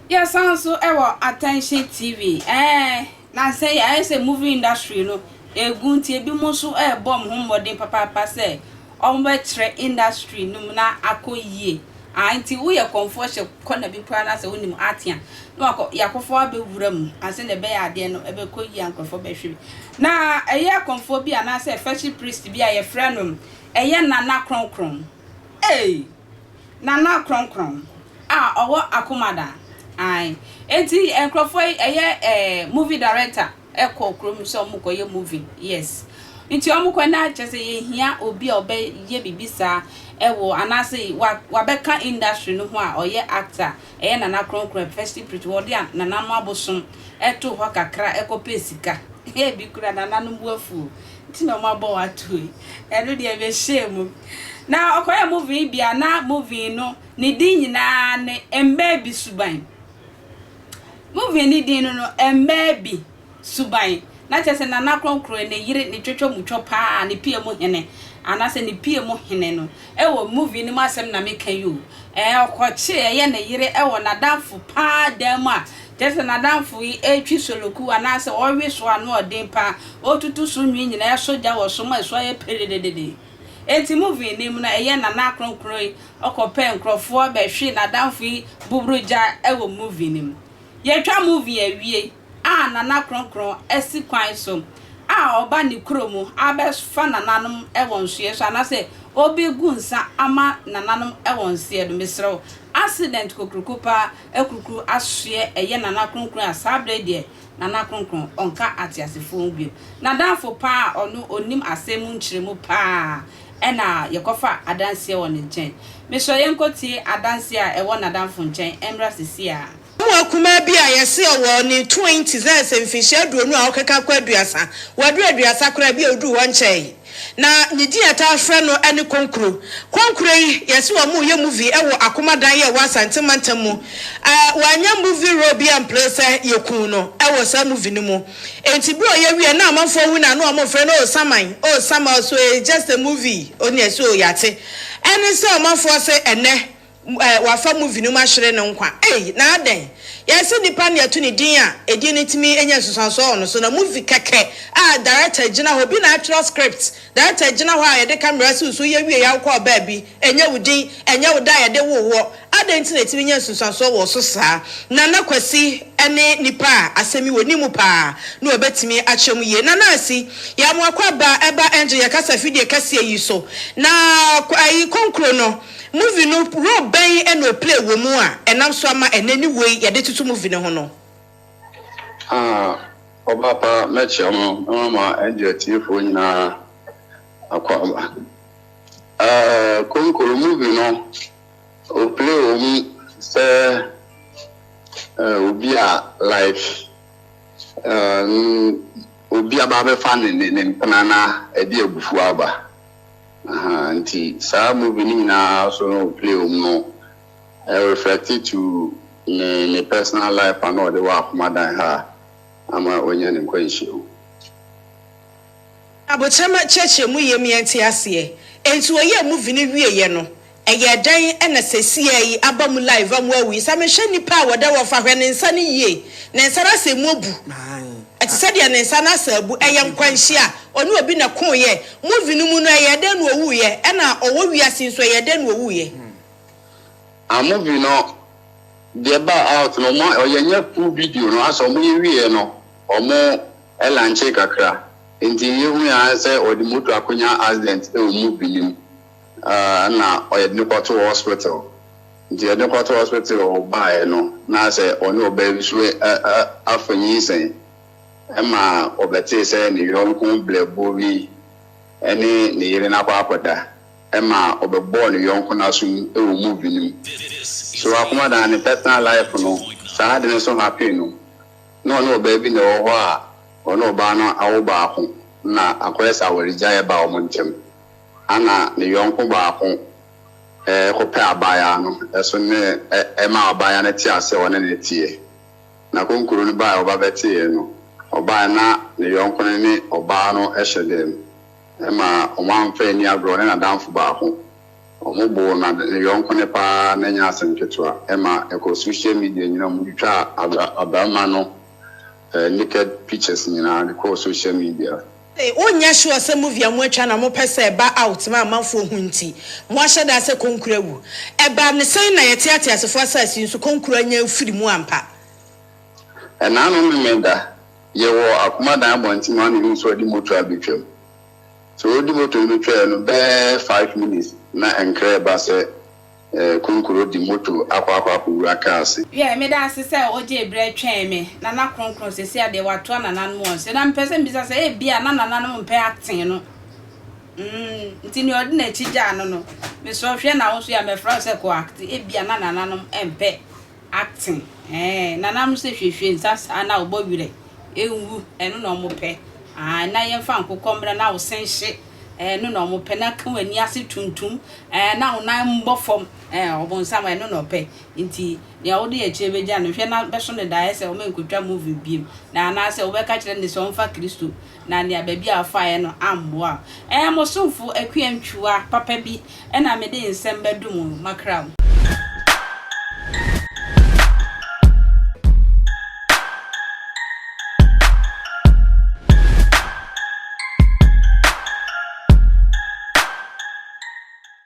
yɛsan nso wɔ attention tv ɛɛ na sɛ yɛayɛ sɛ movie industry no egu nti ebi mo nso ɛrebɔ mo ho mmɔden papaapa sɛ Wɔbɛtrɛ industry no mu na akɔ yie. Aah nti woyɛ kɔmfoɔ hyɛ kɔ na bi koraa na sɛ wonim arte a na wakɔ yɛ akɔfoɔ abɛwura mu a sɛdeɛ ɛbɛyɛ adeɛ no ɛbɛkɔ yie a nkorɔfoɔ bɛhwɛ bi. Na ɛyɛ kɔmfoɔ bi anaasɛ fɛhye priest bi a yɛfrɛ no ɛyɛ Nana Krɔnkrɔn ei Nana Krɔnkrɔn a ɔwɔ Akomada ae nti nkorɔfoɔ yi ɛyɛ eh movie director. kɔ kurom sɛ wɔn kɔ yɛ movie yes nti wɔn kɔ na kyerɛ sɛ yɛ hia obi a ɔbɛ yɛ bibi saa ɛwɔ anaasɛ wa wabɛ ka industry no ho a ɔyɛ actor ɛyɛ nana kronkron a festive pretty wɔ de a nana no abosom ɛto hɔ kakra ɛkɔ pɛ sika hɛ bi kura nana no bu afuo nti na wɔn abɔ wɔn ato yi ɛno deɛ bɛ hyɛ mu na ɔkɔ yɛ movie bi a na movie no ne din nyinaa ne mbɛ bi suban. Movie no din no no mmaa bi suban na kyerɛ sɛ Nana Kronkron ne yere ne twotwo mu twɔ paa ne pia mu hene anaasɛ ne pia mu hene no wɔ movie no mu asɛm na meka yi o ɛɛ ɔkɔkye ɛyɛ ne yere wɔ n'adamfo paa dan mu a kyerɛ sɛ n'adamfo yi ɛretwi soloku anaasɛ ɔrewe so ano ɔden paa ɔretutu so nwi nyinaa ɛso gya wɔ so ma ɛso ayɛ piridididi Enti movie no mu no ɛyɛ Nana Kronkron yi ɔkɔ pɛ nkorɔfoɔ bɛhwe nadamfo yi buburu gya wɔ movie no mu. Yɛtwa movie awie a Nana Kronkron asi kwan so a ɔba ne kuro mu abɛfa nananom wɔ nsoɛ so anasɛ ɔbɛgu nsa ama nananom wɔ nsoɛ no mesrɛ wo accident kokroko paa akurukuru asoɛ ɛyɛ Nana Kronkron a saa berɛ yi deɛ Nana Kronkron ɔnka ateasefoɔ ho bio. Nadamfo paa a ɔno ɔnim asɛm mu nkyerɛmu paa ɛna yɛkɔfa adanseɛ wɔ ne nkyɛn. Mesrɛ yɛnkɔtie adanseɛ a ɛwɔ nadamfo nkyɛn ɛmmra sesie ara. Abamuwa kumaa bi a yɛse ɔwɔ ne twenties, ayɛ sɛ mfinhyia aduonu a ɔkeka kɔ aduasa, waduru aduasa koraa, bi a ɔduruu hɔ nkyɛɛe. Na ne din a yɛtaa frɛ no ne Konkuro. Konkuro yi, yɛse wɔyɛ movie wɔ Akoma dan yɛ wɔ Asante mantam mu. Wɔanyɛ movie role biara amplee sɛ yɛkuu no wɔ saa movie no mu. Enti berɛ a ɔyɛ wieɛ na amanfoɔ hu no a na wɔfrɛ no oh Saman, oh Sama, so it's just a movie, oh nea ɛse oh yɛate. Ɛne sɛ ɔmanfoɔ se ɛnnɛ wɔafa movie no mu ahyere no nkwa. Ei, na adɛn? Yɛse nnipa na yɛto ne din a, edin no tumi nya nsunsuansoɔ wɔ no so. Na movie kɛkɛ a director agyina hɔ, obi na atwerɛ script, director agyina hɔ a yɛde camera si wo so, woyɛ wieɛ a wokɔɔ baabi, ɛnyɛ wo din, ɛnyɛ wo da a yɛde woo woɔ, adɛn nti na ɛtumi nya nsunsuansoɔ wɔ wo so saa? Nana Kwasi ne nipa a asɛm yi wɔ ne mu paa na wɔbɛtumi akyerɛ mu yie. Nana Asi, yɛamoa kɔ aba, ɛba Angel yɛ kasa fidie kɛseɛ yi so. Na ayi, Konkuro no. Movie no role bɛn na o play wɔ mu a ɛnam so ama ɛnnɛ ne wei yɛde toto movie no ho no? Ah ɔbaa pa mɛkyerɛ mo na mama ɛde atiefoɔ nyinaa akɔ aba. Eh, Konkoro movie no o play wɔ mu sɛ eh, obi a like eh, obi aba abɛfa ne ne ne mpena na ɛde abufuo aba. Ahaa nti saa movie no nyinaa so no play wɔ mu no reflect to ne ne personal life a na ɔde wɔ akoma dan ha ama wanya ne nkwanhyia mu. Abotrɛma kyerɛkyerɛ mu yam yɛnte aseɛ. Enti wɔyɛɛ movie no wieeɛ no, Ɛyɛɛ dɛn na sɛsiɛ yi aba mu live a moawu yi? Sɛ mehwɛ nnipa a wɔda hɔ, fa hwɛ ne nsa no yie. Ne nsa no asɛ mu abu. Ɛte sɛ deɛ ne nsa no asɛ abu. Ɛyɛ nkwanhyia. Ɔne obi na ɛkoeɛ. Movie no mu no, ɛyɛɛ dɛn na ɔwuiɛ? Ɛna ɔwɔ wiase yi nso, ɛyɛɛ dɛn na ɔwuiɛ? Ah movie no deɛ ɛbaa out no, wɔn a yɛnyɛ full video no, asɛ wɔn yɛ wieɛ no, wɔn lankyee kakra. Nti yɛhuiɛ ara ne sɛ wɔde motor akɔnya accident wɔ movie no mu. na ɔyɛde no kɔtoo hospital nti yɛde no kɔtoo hospital baeɛ no na sɛ ɔne ɔbaa bi so afa nyinsɛn ɛma ɔbɛtee sɛ ne yɔnko blɛbuo bi ɛne ne yere no akɔ akɔda ɛma ɔbɛbɔɔ ne yɔnko no asom ɛwɔ movie no mu so akomadan ne personal life no saa ade no so happy no na ɔne ɔbaa bi na ɛwɔ hɔ a ɔne ɔbaa no awo baako na akɔyɛ sɛ awaregyaeɛ baa wɔn ntɛm. Ana ne yɔnko baako kɔpɛ abaayaa no so ne ɛmaa abaayaa no tee aseɛ wɔne no teɛ. Na konkuro no baaɛ ɔba bɛteeɛ no, ɔbaaɛ na ne yɔnko no ne ɔbaa no hyɛ dɛm. Ɛma wɔn amfa anni agorɔ wɔne n'adamfo baako. Wɔn boo na ne yɔnko no paa ara na ɛnyɛ asɛm ketewa. Ɛma ɛkɔɔ social media nyinaa mu, wɔtwitwaa abarima no naked pictures nyinaa de kɔɔ social media. Say wonyɛ sure sɛ movie a moatwa na mopɛ sɛ ɛba out ma amanfoɔ hu nti moahyɛ da sɛ konkuro awu? Ɛbaa no sɛn na yɛte ateasefoɔ asase yi so konkuro anya afiri mu ampa? Ɛnnaano Memeneda, yɛwɔ Akomadan abɔnten mu a na yɛhu sɛ wɔde moto abɛtwam. Sɛ wɔredi moto no bɛtwaeɛ no bɛyɛ five minutes na nkra reba sɛ. Konkoro de moto akɔ akɔ akowura car ase. Yeah, meda ase sɛ ogyee berɛ twɛn me. Nana Kronkron, sesia deɛ watoa nananom wɔn so. Na mepɛ sɛ mebisa sɛ ebia na nananom mpɛ acting no. Mm, nti nea ɔde n'akyi gyaa no no, mesrɛ wo hwɛ na wo nso yɛ a mɛfrɛ wo sɛ kɔ acte. Ebia na nananom mpɛ Ate eeh nana mo se hwehwe nsa saa na ɔbɔ werɛ nwu ɛno na ɔmo pɛ aah na yɛnfa nkokɔ mmra na wo se nhye ɛno na ɔmo pɛ na ka w'ani ase tuntum ɛɛ na wo nan mmɔ fam ɛɛ ɔbonsam ɛno na ɔpɛ nti nea wode akyire bɛgya no hwɛ na bɛso no da ayɛ sɛ ɔmɛnkotwa movie biom na anaasɛ wobɛka kyerɛ no sɛ ɔmfa Kristo na nea baabi a ɔfaeɛ no ammoa wo. Ɛɛ, mo somfo Akua Ntwua papa bi na mede nsɛm bɛdom wo makra mu.